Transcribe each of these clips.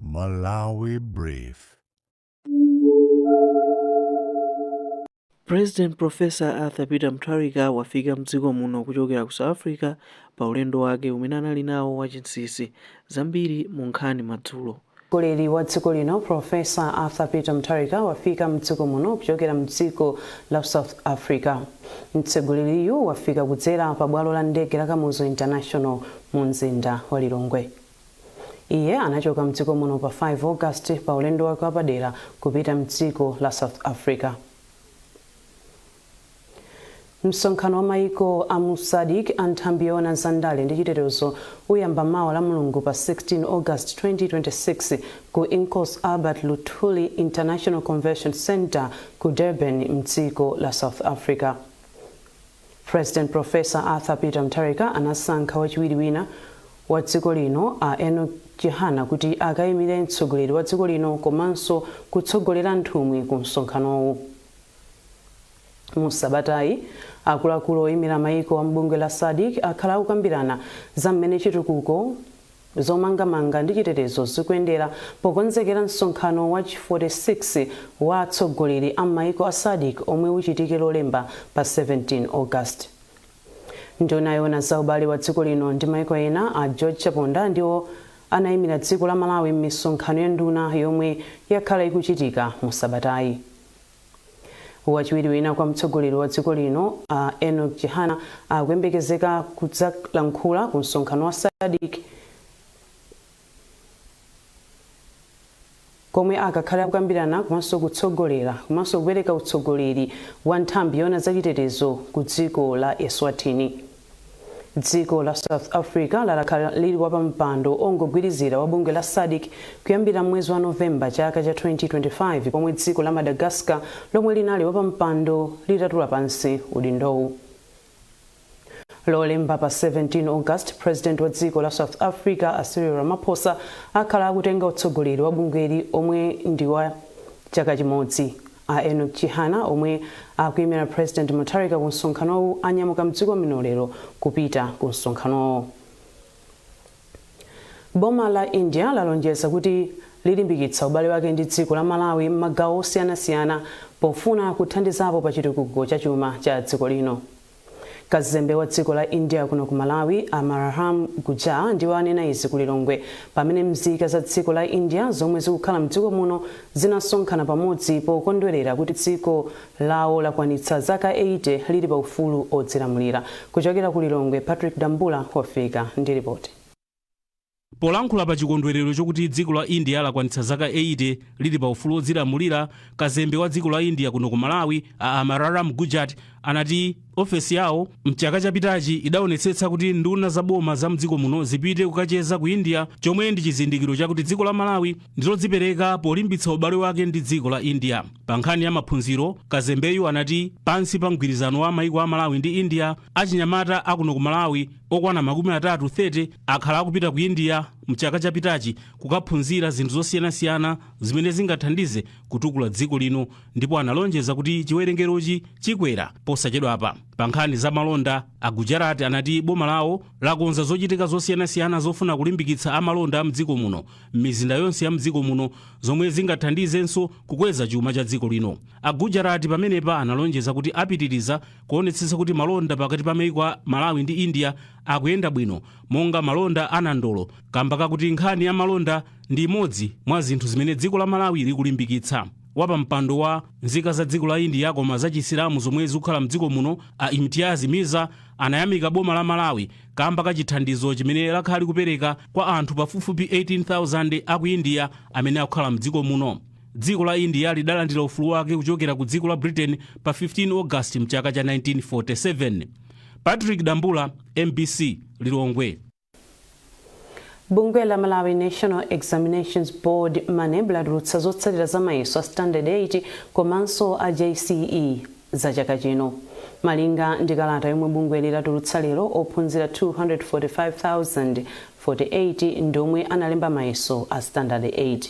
Malawi Brief. President Professor Arthur Peter Mutharika wafika mdziko muno kuchokera ku South Africa pa ulendo wake umene anali nawo wachinsinsi zambiri mu nkhani madzulo. Mtsogoleri wa dziko lino Professor Arthur Peter Mutharika wafika mdziko muno kuchokera mdziko la South Africa. Mtsogoleriyu wafika kudzera pa bwalo la ndege la Kamuzu International mu mzinda wa Lilongwe. iye anachoka mdziko muno pa 5 august pa ulendo wake wapadera kupita mdziko la south africa msonkhano wa maiko a mu sadc a nthambi yoona za ndale ndi chitetezo uyamba mawa la mulungu pa 16 august 2026 ku inkosi albert luthuli international convention center ku durban mdziko la south africa President Prof. Arthur Peter Mutharika anasankha wachiwiri wina wa dziko lino a Enoch Chihana kuti akayimire mtsogoleri wa dziko lino komanso kutsogolera nthumwi ku msonkhanowu. Mu sabatayi, akuluakulu oyimira mayiko a m'bungwe la Sadc akhala akukambirana za mmene chitukuko, Zomangamanga ndi Chitetezo Zikuyendera Pokonzekera Msonkhano wa chi 46 wa Atsogoleri a M'mayiko a sadc Omwe Uchitike Lolemba pa 17 August. Nduna yoona za ubale wa dziko lino ndi maiko ena a George Chaponda ndiwo anaimira dziko la Malawi m'misonkhano ya nduna yomwe yakhala ikuchitika mu sabatayi. Wachiwiri wina kwa mtsogoleri wa dziko lino a Enock Chihana akuyembekezeka kudzalankhula ku msonkhano wa SADC komwe akakhale akukambirana komanso kutsogolera komanso kupereka utsogoleri wa nthambi yoona za chitetezo ku dziko la Eswatini. dziko la south africa lakhala lili wapampando ongogwirizira wa bungwe la sadc kuyambira mwezi wa novemba chaka cha 2025 pomwe dziko la madagascar lomwe linali wapampando litatula pansi udindowu lolemba pa 17 august president wa dziko la south africa a cyril ramaphosa akhala akutenga utsogoleri wa bungweli omwe ndi wa chaka chimodzi A Enock Chihana omwe akuimira President Mutharika ku msonkhanowu anyamuka mdziko muno lero kupita ku msonkhanowo. Boma la India lalonjeza kuti lilimbikitsa ubale wake ndi dziko la Malawi mmagawo osiyana siyana pofuna kuthandizapo pa chitukuko cha chuma cha dziko lino. Kazembe wa dziko la India kuno ku Malawi, Amararam Gujar, ndiwo anena izi ku Lilongwe pamene mzika za dziko la India zomwe zikukhala mdziko muno zinasonkhana pamodzi pokondwelera kuti dziko lawo lakwanitsa zaka 80 lili pa ufulu odzilamulira. Kuchokera ku Lilongwe, Patrick Dambula wafika ndi ripoti. Polankhula pa chikondwerero chokuti dziko la India lakwanitsa zaka 80 lili pa ufulu odzilamulira, kazembe wa dziko la India kuno ku Malawi, a Amararam Gujat, anati ofesi yawo m'chaka chapitachi idaonetsetsa kuti nduna za boma za mdziko muno zipite kukacheza ku India chomwe ndi chizindikiro chakuti dziko la Malawi ndilodzipereka polimbitsa ubale wake ndi dziko la India. Pa nkhani ya maphunziro, kazembeyu anati pansi pa mgwirizano wa maiko a Malawi ndi India, Achinyamata akuno ku Malawi okwana 30 akhala akupita ku India mchaka chapitachi kukaphunzira zinthu zosiyanasiyana zimene zingathandize kutukula dziko lino ndipo analonjeza kuti chiwerengerochi chikwera posachedwapa. Pa nkhani za malonda, a Gujarat anati boma lawo lakonza zochitika zosiyanasiyana zofuna kulimbikitsa amalonda a mdziko muno m'mizinda yonse ya mdziko muno zomwe zingathandizenso kukweza chuma cha dziko lino. A Gujarat pamenepa analonjeza kuti apitiriza kuonetsetsa kuti malonda pakati pa maiko a malawi ndi india akuyenda bwino monga malonda a nandolo kamba kakuti nkhani ya malonda ndi imodzi mwa zinthu zimene dziko la malawi likulimbikitsa wapampando wa nzika za dziko la india koma za chisilamu zomwe zikukhala mdziko muno a imtiaz mirza anayamika boma la malawi kamba ka chithandizo chimene lakhala likupereka kwa anthu pafupifupi 18000 aku india amene akukhala mdziko muno Dziko la India lidalandira ufulu wake kuchokera ku dziko la Britain pa 15 August mchaka cha 1947. Patrick Dambula, MBC, Lilongwe. bungwe la malawi national examinations board maneb latulutsa zotsatira za mayeso a standard 8 komanso a jce za chaka chino malinga ndi kalata yomwe bungweli latulutsa lero ophunzira 245,048 ndi omwe analemba mayeso a standard 8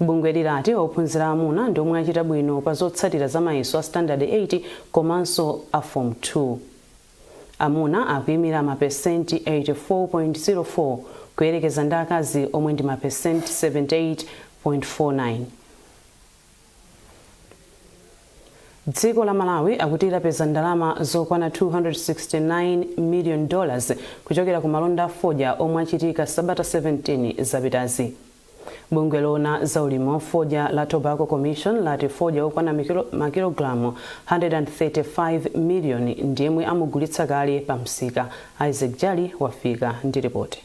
Bungweli lati ophunzira aamuna ndi omwe achita bwino pa zotsatira za mayeso a sitandade 8 komanso a fomu 2. Amuna akuimira mapesenti 84.04 kuyerekeza ndi akazi omwe ndi mapesenti 78.49. Dziko la Malawi akuti lapeza ndalama zokwana 269 million dollars kuchokera ku malonda a fodya omwe achitika sabata 17 zapitazi. Bungwe loona za ulimi wa fodya la Tobacco Commission lati fodya okwana makilogalamu 135 million ndi yemwe amugulitsa kale pa msika. Isaac Jali wafika ndi ripoti.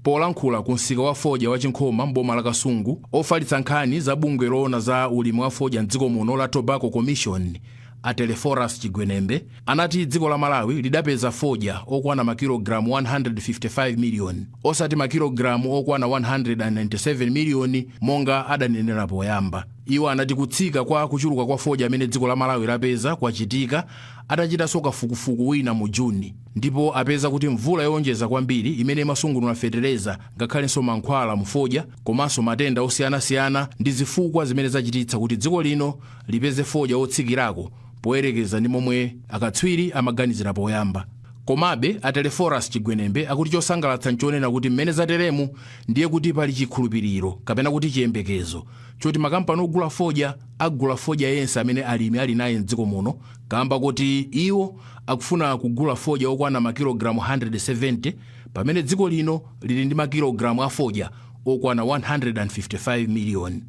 Polankhula ku msika wa fodya wa Chinkhoma m'boma la Kasungu, ofalitsa nkhani za bungwe loona za ulimi wa fodya m'dziko muno la Tobacco Commission, a Telephorus Chigwenembe, anati dziko la Malawi lidapeza fodya okwana makilogalamu 155 miliyoni, osati makilogalamu okwana 197 miliyoni monga adanenera poyamba. Iwo anati kutsika kwa kuchuluka kwa fodya amene dziko la Malawi lapeza kwachitika atachitanso kafukufuku wina mu June. ndipo apeza kuti mvula yowonjeza kwambiri imene imasungunula fetereza ngakhalenso mankhwala mu fodya komanso matenda osiyanasiyana ndi zifukwa zimene zachititsa kuti dziko lino lipeze fodya wotsikirako poyerekeza ndi momwe akatswiri amaganizira poyamba komabe a telephorus chigwenembe akuti chosangalatsa nchonena kuti mmene zateremu ndiye kuti pali chikhulupiriro kapena kuti chiyembekezo choti makampani ogula fodya agula fodya yense amene alimi ali naye mdziko muno kamba koti iwo akufuna kugula fodya okwana makilogalamu 170 pamene dziko lino lili ndi makilogalamu a fodya okwana 155 miliyoni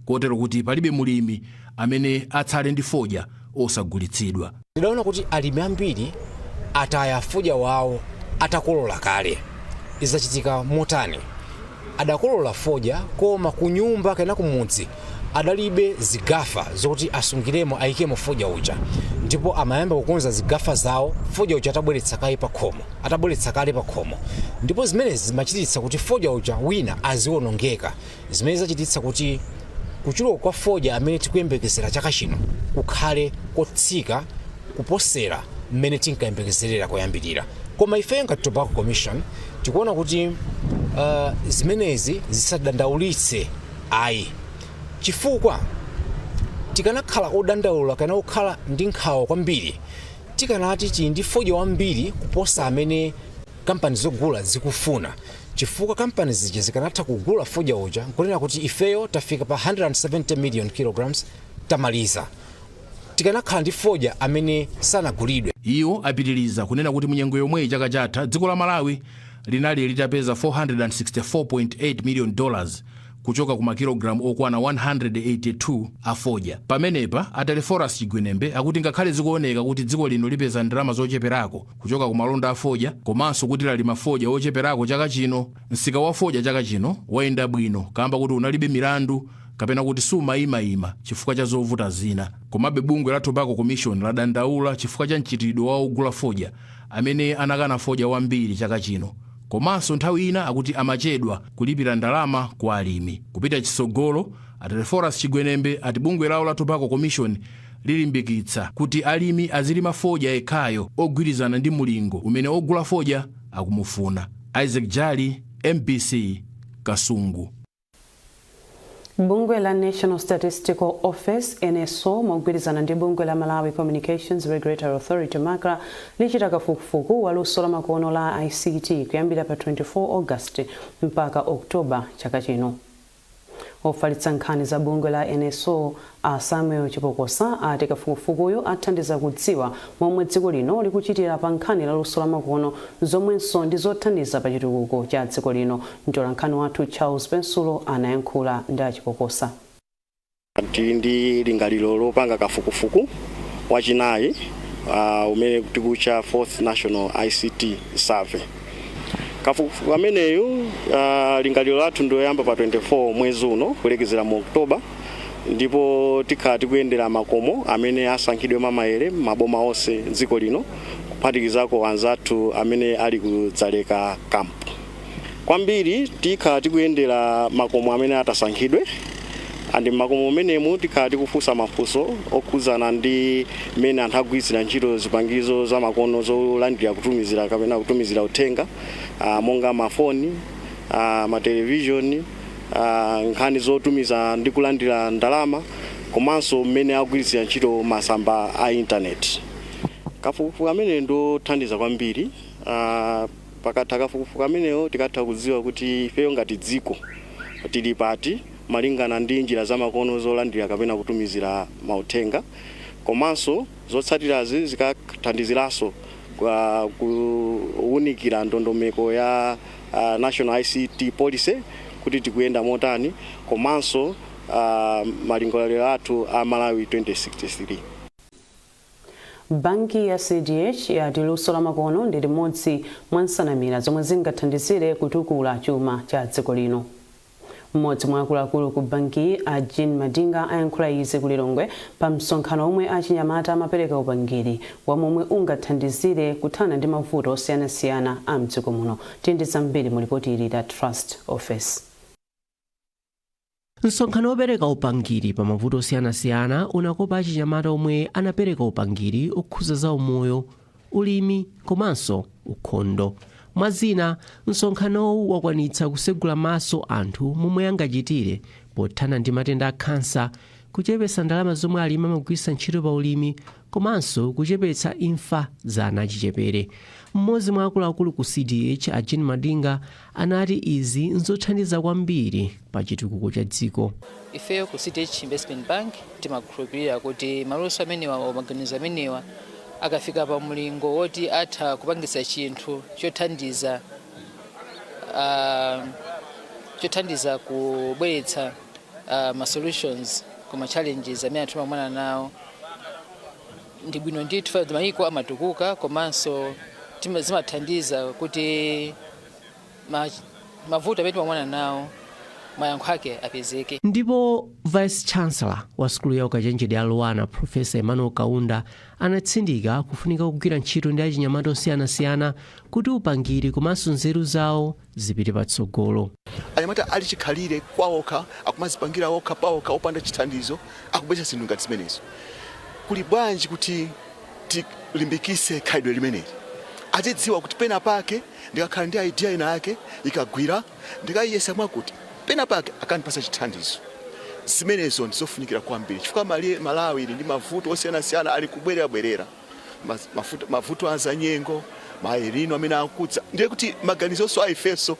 kotero kuti palibe mulimi amene atsale ndi fodya osagulitsidwa. Tidaona kuti alimi ambiri ataya fodya wawo atakolola kale. Izi zachitika motani? Adakolola fodya, koma kunyumba kapena kumudzi adalibe zigafa zoti asungiremo, aikemo fodya uja. Ndipo amayamba kukonza zigafa zawo fodya uja atabweretsa kale pakhomo. Ndipo zimene zimachititsa kuti fodya uja wina aziwonongeka, zimene zachititsa kuti kuchuluka kwa fodya amene tikuyembekezera chaka chino kukhale kotsika. kuposera mmene tinkayembekezerera koyambirira koma ifeyo ngati tobacco commission tikuona kuti uh, zimenezi zisadandaulitse ayi chifukwa tikanakhala odandaula kana okhala ndi nkhawa kwambiri tikanati tili ndi fodya wambiri kuposa amene kampani zogula zikufuna chifukwa kampani zija zikanatha kugula fodya uja nkunena kuti ifeyo tafika pa 170 million kilograms tamaliza tikanakhala ndi fodya amene sanagulidwe. Iwo apitiliza kunena kuti munyengo yomweyi chaka chatha, dziko la Malawi linali litapeza 464.8 million dollars kuchoka ku makilogalamu okwana 182 a fodya. Pamenepa, a Telephorus Chigwenembe akuti ngakhale zikuoneka kuti dziko lino lipeza ndalama zocheperako kuchoka ku malonda a fodya komanso kuti lalima fodya wocheperako chaka chino, msika wa fodya chaka chino wayenda bwino kaamba koti unalibe milandu kapena kuti sumayimayima chifukwa cha zovuta zina. Komabe bungwe la Tobacco Commission ladandaula chifukwa cha mchitidwe wa ogula fodya amene anakana fodya wambiri chaka chino komanso nthawi ina akuti amachedwa kulipira ndalama kwa alimi. Kupita chitsogolo, a Telephorus Chigwenembe ati bungwe lawo la Tobacco Commission lilimbikitsa kuti alimi azilima fodya yekhayo ogwirizana ndi mulingo umene ogula fodya akumufuna. Isaac Jali, mbc, Kasungu. bungwe la national statistical office nso mogwirizana ndi bungwe la malawi communications regulatory authority macra lichita kafukufuku wa luso lamakono la ict kuyambira pa 24 august mpaka october chaka chino ofalitsa nkhani za bungwe la nso A Samuel Chipokosa ati kafukufukuyu athandiza kudziwa momwe dziko lino likuchitira pa nkhani la luso lamakono zomwenso ndi zothandiza pa chitukuko cha dziko lino. Mtolankhani wathu Charles Pensulo anayankhula ndi a Chipokosa. Tili ndi lingaliro lopanga kafukufuku wachinayi umene tikuwutcha Fourth National ICT Survey. kafukufuku ameneyu uh, lingaliro lathu ndi loyamba pa 24 mwezi uno kulekezera mu oktoba ndipo tikhala tikuyendera makomo amene asankhidwe mwamayere m'maboma onse dziko lino kuphatikizako anzathu amene ali ku Dzaleka kampu kwambiri tikhala tikuyendera makomo amene atasankhidwe and mmakomo amenemo tikhala tikufunsa mafunso okhudzana ndi mmene anthu agwiritsira ntchito zipangizo zamakono zolandira kutumizira kapena kutumizira uthenga ah, monga mafoni ah, matelevishoni ah, nkhani zotumiza ndi kulandira ndalama komanso mmene agwiritsira ntchito masamba a intaneti kafukufuku ameneyu ndi othandiza kwambiri ah, Pakatha kafukufuku ameneyo tikatha kudziwa kuti ifeyo ngati dziko tili pati malingana ndi njira zamakono zolandira kapena kutumizira mauthenga komanso zotsatirazi zikathandiziranso kuunikira ndondomeko ya National ICT Policy kuti tikuyenda motani komanso malingaliro athu a Malawi 2063. Banki ya CDH yati luso la makono ndi limodzi mwa nsanamira zomwe zingathandizire kutukula chuma cha dziko lino. M'modzi mwa akuluakulu ku bankiyi a Jean Madinga ayankhula izi ku Lilongwe pa msonkhano womwe achinyamata amapereka upangiri womwe ungathandizire kuthana ndi mavuto osiyanasiyana a mdziko muno. Tili ndi zambiri mu lipoti ili la Trust Office. Msonkhano wopereka upangiri pa mavuto osiyanasiyana unakopa achinyamata omwe anapereka upangiri okhuza za umoyo, ulimi komanso ukhondo. Mwa zina, msonkhanowu wakwanitsa kusegula maso anthu momwe angachitire pothana ndi matenda a khansa, kuchepetsa ndalama zomwe alimi amagwiritsa ntchito pa ulimi komanso kuchepetsa imfa za ana achichepere. Mmodzi mwa akuluakulu ku CDH, a Jean Madinga, anati izi n'zothandiza kwambiri pa chitukuko cha dziko. Ifeyo ku CDH Investment Bank timakhulupirira kuti maluso amenewa or maganizo amenewa akafika pa mlingo woti atha kupangitsa chinthu chothandiza ah, chothandiza kubweretsa uh, ma solutions ku ma challenges amene anthu amakumana nawo ndi bwino ndithu ndi mayiko amatukuka komanso tima- zimathandiza kuti ma- mavuto amene timakumana nawo mayankho ake apezeke ndipo vice chancellor wa sukulu ya ukachenjede ya luanar profesa emmanuel kaunda anatsindika kufunika kugwira ntchito ndi achinyamata osiyanasiyana kuti upangiri komanso nzeru zawo zipite patsogolo. Anyamata ali chikhalire kwaokha, akumazipangira okha paokha, opanda chithandizo, akubweretsa zinthu ngati zimenezo. Kuli bwanji kuti tilimbikitse khalidwe limeneli? Azidziwa kuti pena pake ndikakhala ndi idea ina yake ikagwira, ndikayiyesa mwakuti pena pake akandipatsa chithandizo. Zimenezo ndizofunikira kwambiri chifukwa Malawi ili ndi mavuto osiyanasiyana ali kubwererabwerera. mas- mafuta- mavuto a zanyengo ma el nino amene akudza ndiye kuti maganizonso a ifenso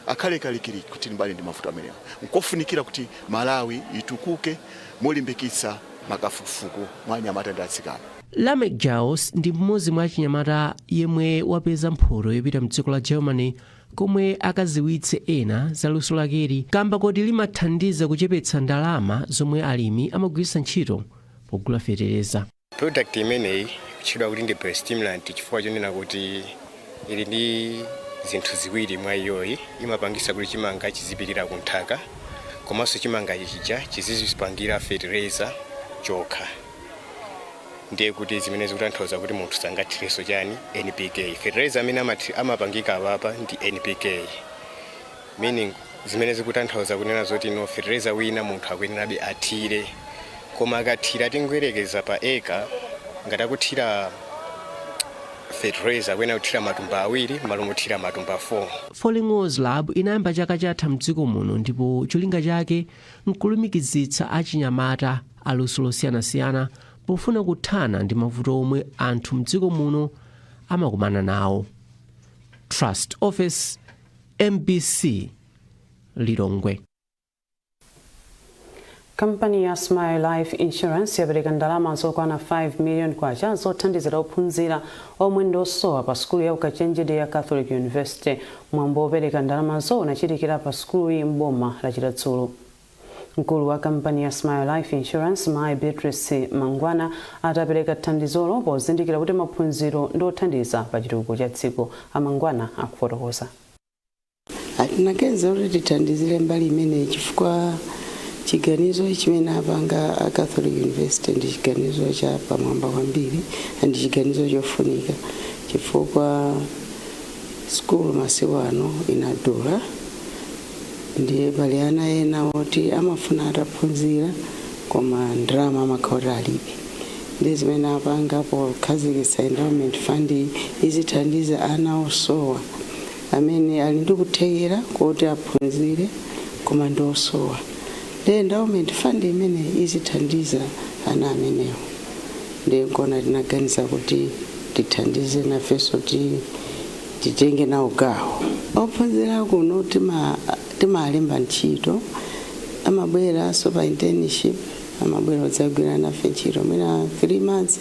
akhale kalikiliki kuti tilimbane ndi mavuto amenewa nkofunikira kuti malawi itukuke molimbikitsa makafukufuku mwa anyamata ndi atsikana lamek jaus ndi mmodzi mwa achinyamata yemwe wapeza mphoto yopita mdziko la germany komwe akaziwitse ena za luso lakeli kamba koti limathandiza kuchepetsa ndalama zomwe alimi amagwiritsa ntchito pogula fetereza product imeneyi kutchedwa kuti ndi biostimulant chifukwa chonena kuti ili ndi zinthu ziwiri mwa iyoyi imapangisa kuti chimanga chizipirira ku nthaka komanso chimanga chija chizizipangira fertilizer chokha ndiye kuti zimene zikutanthauza kuti munthu sangathirenso chani npk fertilizer amene amathi- amapangika apapa ndi npk Meaning, Zimene zikutanthauza kunena zoti no fetereza wina munthu akuyenerabe athire. Koma akathira tingoyerekeza pa acre ngati akuthira fetereza akuyenera kuthira matumba awiri mmalo mothira matumba 4. Falling Walls Lab inayamba chaka chatha mdziko muno ndipo cholinga chake nkulumikizitsa achinyamata a luso losiyanasiyana pofuna kuthana ndi mavuto omwe anthu mdziko muno amakumana nawo. Trust Ofesi. Mbc Lilongwe. Kampani ya Smile Life Insurance yapereka ndalama zokwana 5 million kwacha zothandizira ophunzira omwe ndi osowa pa sukulu ya ukachenjede ya Catholic University. Mwambo wopereka ndalamazo unachitikira pa sukuluyi m'boma la Chiradzulu. Mkulu wa kampani ya Smile Life Insurance mayi Beatrice Mangwana ati apereka thandizolo pozindikira kuti maphunziro ndi othandiza pa chitukuko cha dziko. A Mangwana akufotokoza. A tinaganiza kuti tithandizire mbali imeneyi chifukwa chiganizo chimene apanga a Catholic University ndi chiganizo cha pamwamba kwambiri ndi chiganizo chofunika chifukwa sukulu masiku ano inadula ndiye pali ana ena oti amafuna ataphunzira koma ndalama amakhala kuti alibe ndi zimene apanga pokhazikitsa endowment fund izithandiza ana osowa amene ali ndi kuthekera koti aphunzire koma ndi osowa ndi endowment fund imene izithandiza ana amenewo ndiye nkona tinaganiza kuti tithandize nafenso ti titenge nawo gawo. Ophunzira kuno timalemba ntchito, amabweranso pa internship, amabwera odzagwira nafe ntchito mwina 3 months,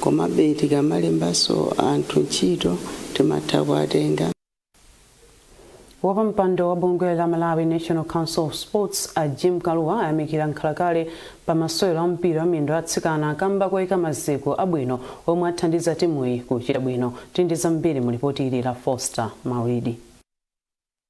komabe tikamalembanso anthu ntchito timatha kuwatenga. Wapampando wa bungwe la Malawi National Council of Sports a Jim Kalua ayamikira mkhalakale pa masewero a mpira wa miyendo a atsikana kamba koyika maziko abwino omwe athandiza timuyi kuchita bwino. Tili ndi zambiri mu lipoti ili la Foster Maulidi.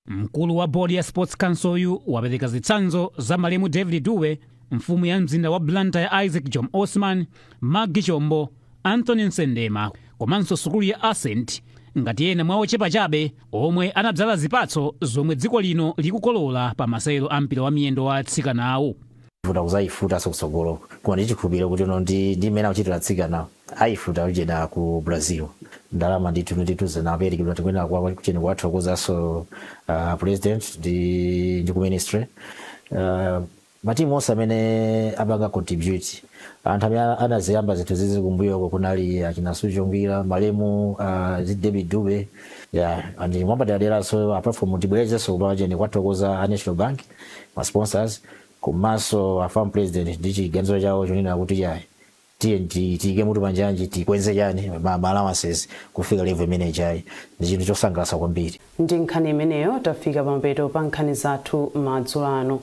Mkulu wa bodi ya Sports Council yu wapereka zitsanzo za malemu David Dube, mfumu ya mzinda wa Blantyre Isaac Jomo Osman, Maggie Chombo, Anthony Msendema komanso sukulu ya Ascent ngati ena mwa ochepa chabe omwe anadzala zipatso zomwe dziko lino likukolola pa masewero a mpira wa miyendo wa atsikanawu. futa kuzayifutanso kutsogolo koma ndi chikhulupiriro kuti inu ndi ndi mmene akuchitira atsikana ayifuta ujeni ku brazil ndalama ndithu ndithu zinaperekedwa tikuyenera kuwa kuchani kuwathokozanso uh, president ndi ndi ku ministry uh, Matimu onse amene apanga contribute anthu amene anaziyamba zinthu zizi kumbuyoko kunali achina Suzgo Ngwira, malemu a David Dube yeah and mwapaderaderanso apart from tibwerezenso kupachani kuwathokoza a National Bank, ma sponsors komanso a FAM president ndi chiganizo chawo chonena kuti iyayi tiyeni ti- tiyike mutu panjanji tikwenze chani ma ma allowances kufika level imene ijayi ndi chinthu chosangalatsa kwambiri. Ndi nkhani imeneyo tafika pamapeto pa nkhani zathu madzulo ano.